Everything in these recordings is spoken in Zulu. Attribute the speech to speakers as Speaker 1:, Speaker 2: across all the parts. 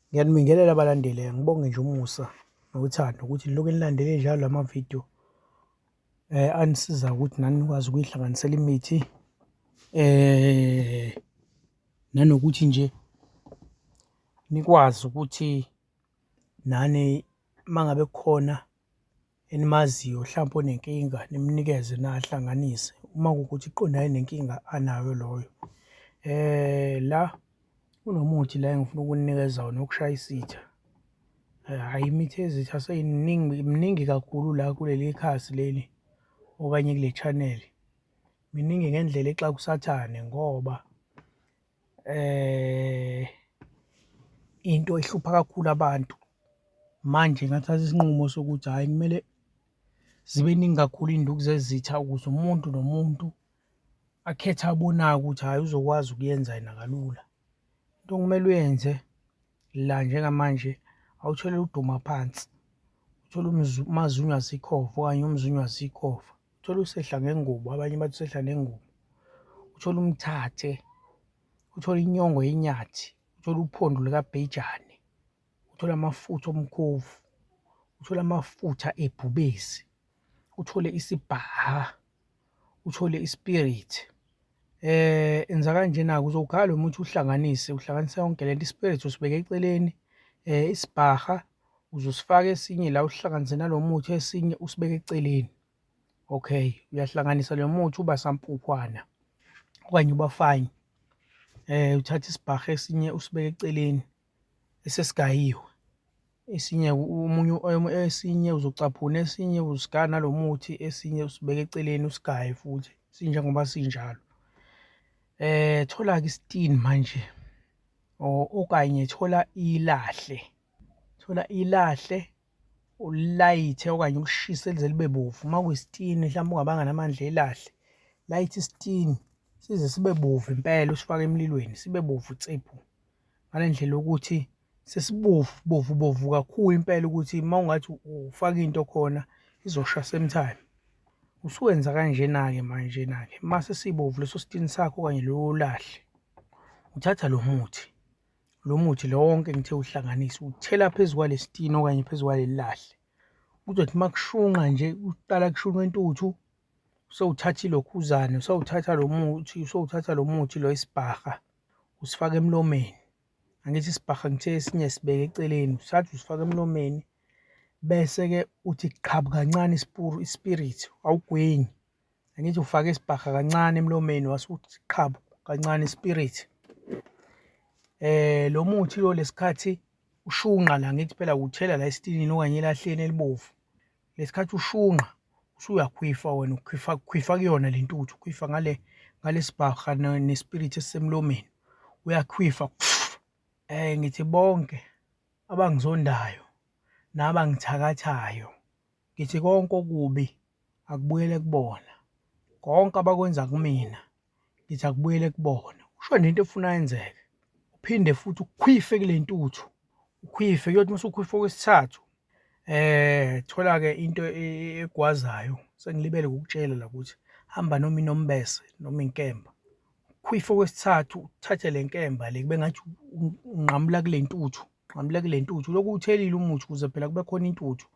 Speaker 1: Ngiyanibingelela abalandeli, ngibonge nje umusa nothando ukuthi nilokhu nilandele njalo la mavidiyo um eh, anisiza ukuthi nani nikwazi ukuyihlanganisela imithi um nanokuthi nje nikwazi ukuthi nani uma ngabe kukhona enimaziyo hlampe onenkinga nimnikeze nahlanganise uma kukuthi iqondane nenkinga anayo loyo eh la kunomuthi la engifuna ukunikeza wona ukushaya isitha eh, hayi imithi ezitha seyiningi miningi kakhulu la kuleli khasi leli okanye kule channel miningi ngendlela exakusathane ngoba eh into ehlupha kakhulu abantu manje ngathatha isinqumo sokuthi hayi kumele zibe ningi kakhulu induku zezitha ukuze umuntu nomuntu akhethe abonayo ukuthi hayi uzokwazi ukuyenza yena kalula into okumele uyenze la njengamanje awutholele uduma phansi uthole umazunywa zikhova okanye umzunywa zikhova uthole usehla ngengubo abanye bathi usehla nengubo uthole umthathe uthole inyongo yenyathi uthole uphondo likabhejane uthole amafutha omkhovu uthole amafutha ebhubesi uthole isibhaha uthole ispirit eh enza kanjena kuzokhala umuthi uhlanganise uhlanganisa yonke lento ispirit usibeke eceleni eh isibhaha uze usifake esinye la usihlanganise nalo muthi esinye usibeke eceleni okay uyahlanganisa lo muthi uba sampuphwana okanye uba fine eh uthatha isibhahe esinye usibeke eceleni esesigayiwe esinye umunye esinye uzocaphuna esinye usigaya nalo muthi esinye usibeke eceleni usigaye futhi sinjengoba sinjalo eh thola-ke isitini manje okanye thola ilahle thola ilahle ulayithe okanye ulishise lize libe bovu uma kuyisitini mhlawumbe ungabanga namandla elahle layithe isitini size sibe bovu impela usifake emlilweni sibe bovu tsiphu ngale ndlela yokuthi sesibovu bovu bovu kakhulu impela ukuthi uma ungathi ufaka into khona izosha same time usuwenza kanjena-ke manjena-ke uma sesibovu leso sitini sakho okanye lowo lahle uthatha lo muthi lo muthi lo wonke ngithe uhlanganise uthela phezu kwalesitini okanye phezu kwalelilahle kuzothi uma kushunqa nje uqala kushunqa intuthu usewuthatha ilokhuzane usewuthatha lo muthi usewuthatha lo muthi lo isibhaha usifaka emlomeni angithi isibhaha ngithe esinye sibeke eceleni usathi usifaka emlomeni bese-ke uthi qhabu kancane isipuru ispirit awugwenyi Angithi ufake isibhaha kancane emlomeni wasuthi qhabu kancane spirit. Eh lo muthi lo lesikhathi ushunqa la ngithi phela uthela la esitinini okanye elahleni elibovu. Lesikhathi ushunqa usuyakhwifa wena ukhwifa khwifa kuyona lentuthu ukhwifa ngale ngalesibhaha nespirit esisemlomeni uyakhwifa eh ngithi bonke abangizondayo nabangithakathayo Ngithi konke okubi akubuyele kubona. Konke abakwenza kumina ngithi akubuyele kubona. Usho nento efuna yenzeke. Uphinde futhi ukhwife kule ntuthu. Ukhwife kuyothi mase ukhwife okwesithathu. Eh thola ke into e-, egwazayo. Sengilibele ukukutshela la ukuthi hamba noma inombese noma inkemba. Ukhwife okwesithathu uthathe le nkemba le kube ngathi unqamula kule ntuthu. Qhamule kule ntuthu. Lokhu uthelile umuthi ukuze phela kube khona intuthu.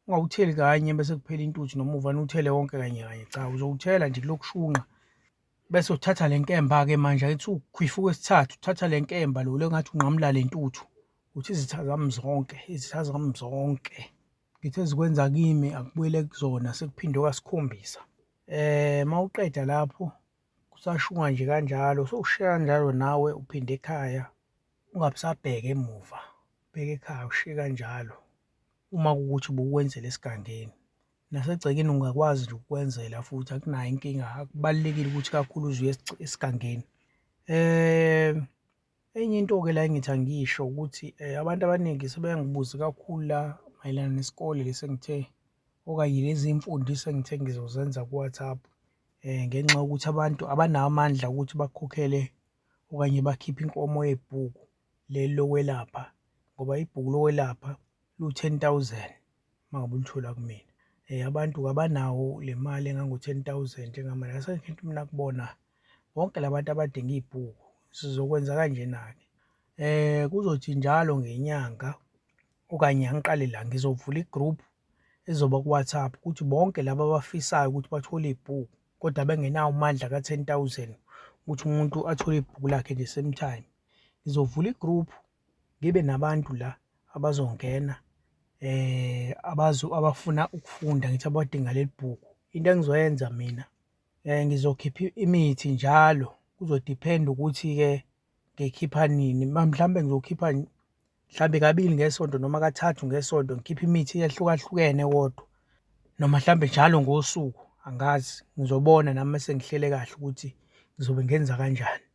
Speaker 1: Ungawutheli kanye bese kuphela intuthu noma uvane uthele wonke kanye kanye. Cha, uzowuthela nje kulokushunqa. Bese uthatha le nkemba-ke manje ayithi ukhwifu kwesithathu, uthatha le nkemba lo, le ngathi unqamula le ntuthu. Uthi izitha zami zonke, izitha zami zonke. Ngithe zikwenza kimi akubuyele kuzona sekuphindwe kasikhombisa. Eh mawuqeda lapho kusashunga nje kanjalo sowushiya kanjalo nawe uphinde ekhaya ungabusabheke emuva bheke ekhaya ushiye kanjalo uma kukuthi ubukwenzela esigangeni nasegcekeni ungakwazi nje ukukwenzela futhi akunayo inkinga akubalulekile ukuthi kakhulu uzuye esigangeni um Enye into-ke la engithi angisho ukuthi um abantu abaningi sebeyangibuza kakhulu la mayelana nesikole lesi engithe okanye lezi mfundiso engithe ngizozenza ku-WhatsApp um ngenxa yokuthi abantu abanawo amandla ukuthi bakhokhele okanye bakhiphe inkomo yebhuku leli lokwelapha ngoba ibhuku lokwelapha lu-ten thousand. mangabe ulithola kumina eh abantu kabanawo le mali engango-10000 engama la sengifuna mina kubona bonke labantu abadinga ibhuku sizokwenza kanjena-ke eh kuzothi njalo ngenyanga okanye angiqale la ngizovula igroup ezoba ku-WhatsApp ukuthi bonke laba abafisayo ukuthi bathole ibhuku kodwa bengenawo amandla ka-10000 ukuthi umuntu athole ibhuku lakhe nje same time ngizovula igroup ngibe nabantu la abazongena eh abazo abafuna ukufunda ngithi abadinga leli bhuku into engizoyenza mina eh ngizokhipha imithi njalo kuzodepend ukuthi ke ngikhipha nini mhlawumbe ngizokhipha mhlawumbe kabili ngesonto noma kathathu ngesonto ngikhipha imithi ehlukahlukene kodwa noma mhlawumbe njalo ngosuku angazi ngizobona nami sengihlele kahle ukuthi ngizobe ngenza kanjani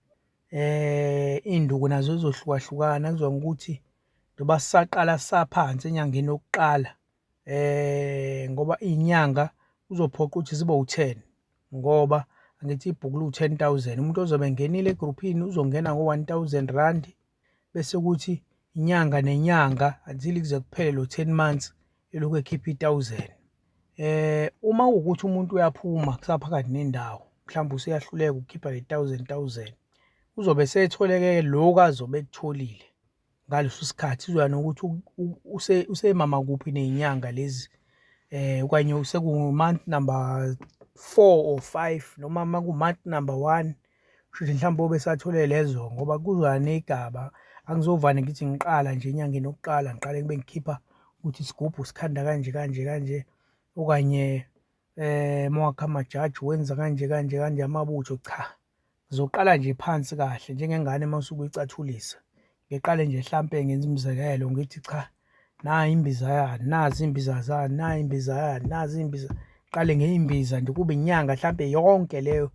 Speaker 1: Eh induku nazo izohlukahlukana kuzwa ukuthi ndoba saqala saphansi enyangeni yokuqala eh ngoba inyanga uzophoqa ukuthi zibe u10 ngoba angithi ibhukulu u10000 umuntu ozobe ngenile egroupini uzongena ngo1000 rand bese kuthi inyanga nenyanga until kuze kuphele lo 10 months elokhu ekhipha i-thousand eh uma ukuthi umuntu uyaphuma kusaphakathi nendawo mhlawumbe useyahluleka ukukhipha le 1000 1000 uzobe setholeke lokho azobe ekutholile ngaleso sikhathi uzoya nokuthi use usemama kuphi nezinyanga lezi eh okanye useku month number 4 or 5 noma maku month number 1 Shuthi mhlawumbe obesathole lezo ngoba kuzwane igaba angizovane ngithi ngiqala nje enyangeni yokuqala ngiqale kube ngikhipha ukuthi isigubhu sikhanda kanje kanje kanje okanye eh mawakha amajaji wenza kanje kanje kanje amabutho cha ngizoqala nje phansi kahle njengengane masuke icathulisa ngiqale nje hlampe ngenza umzekelo ngithi cha nayi imbiza yani nazi imbiza zani nayi imbiza yani nazi imbiza qale ngeyimbiza nje kube inyanga hlampe yonke leyo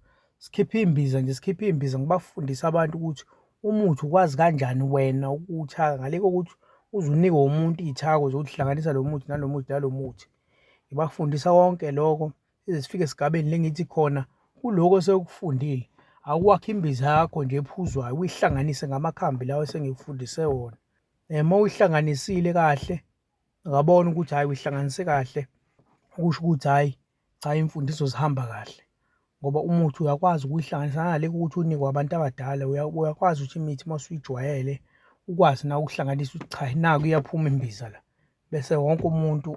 Speaker 1: sikhiphe imbiza nje sikhiphe imbiza ngibafundisa abantu ukuthi umuthi ukwazi kanjani wena ukuwuthaka ngale kokuthi uze unikwe umuntu iy'thako zokuhlanganisa lo muthi nalo muthi nalo muthi ngibafundisa konke lokho size sifike esigabeni lengithi khona kuloko osekufundile awuwakhe imbiza yakho nje ephuzwayo uyihlanganise ngamakhambi lawo esengikufundise wona um uyihlanganisile kahle ngabona ukuthi hhayi uyihlanganise kahle kusho ukuthi hhayi cha imfundiso zihamba kahle ngoba umuthi uyakwazi ukuyihlanganisa naleko ukuthi unikwe abantu abadala uyakwazi ukuthi imithi uma usuyijwayele ukwazi na ukuhlanganisa ukuthi cha naku iyaphuma imbiza la bese wonke umuntu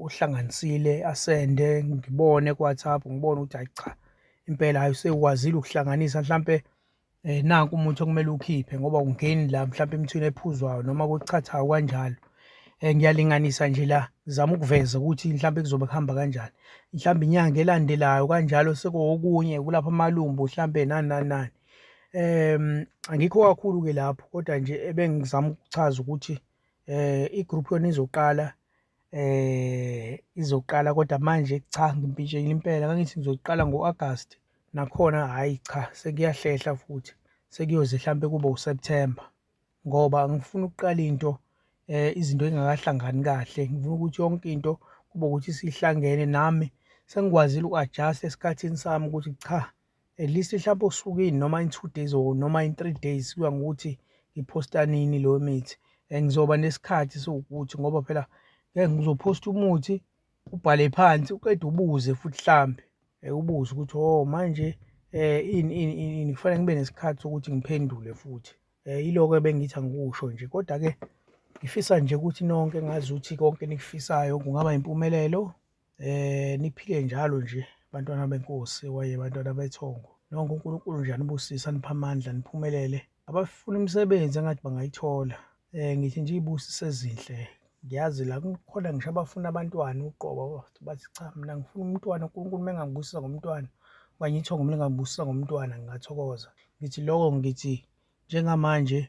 Speaker 1: uhlanganisile asende ngibone kuWhatsApp ngibone ukuthi hayi cha impela hayi usekwazile ukuhlanganisa mhlampe eh nanku umuntu okumele ukhiphe ngoba ungeni la mhlampe imithini ephuzwayo noma kuchathayo kanjalo eh ngiyalinganisa nje la zama ukuveza ukuthi mhlampe kuzobe kuhamba kanjani mhlambe inyanga elandelayo kanjalo sekokunye kulapha amalumbu mhlampe nani nani nani em angikho kakhulu ke lapho kodwa nje ebengizama ukuchaza ukuthi eh igroup yona izoqala eh izoqala kodwa manje cha ngimpintshekile impela ngangithi ngizoqala ngo-August nakhona hayi cha sekuyahlehla futhi sekuyoze mhlampe kube uSeptember ngoba ngifuna ukuqala into eh izinto engakahlangani kahle ngifuna ukuthi yonke into kube ukuthi sihlangene nami sengikwazile uku-adjust esikhathini sami ukuthi cha at least mhlawumbe usuku ini noma in two days or noma in three days kuya ngokuthi ngiphosta nini leyo mithi and ngizoba nesikhathi sokuthi ngoba phela ngeke ngizophosta umuthi ubhale phansi uqeda ubuze futhi mhlambe eh, ubuze ukuthi oh manje eh ini ini ini kufanele ngibe nesikhathi sokuthi ngiphendule futhi eh iloko ebengithi angikusho nje kodwa ke ngifisa nje ukuthi nonke ngazi ukuthi konke nikufisayo kungaba impumelelo Eh niphile njalo nje bantwana benkosi waye bantwana bethongo. Nonke uNkulunkulu nje anibusisa nipha amandla niphumelele. Abafuna imisebenzi engathi bangayithola. Eh ngithi nje ibusise ezinhle. Ngiyazi la kukhona ngisho abafuna abantwana uqobo bathi cha mina ngifuna umntwana uNkulunkulu mengangibusisa ngomntwana okanye ithongo mina ngangibusisa ngomntwana ngingathokoza. Ngithi lokho ngithi njengamanje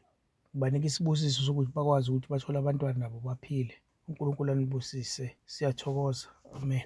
Speaker 1: Ngibanika isibusiso sokuthi bakwazi ukuthi bathole abantwana nabo baphile. UNkulunkulu anibusise. Siyathokoza. Amen.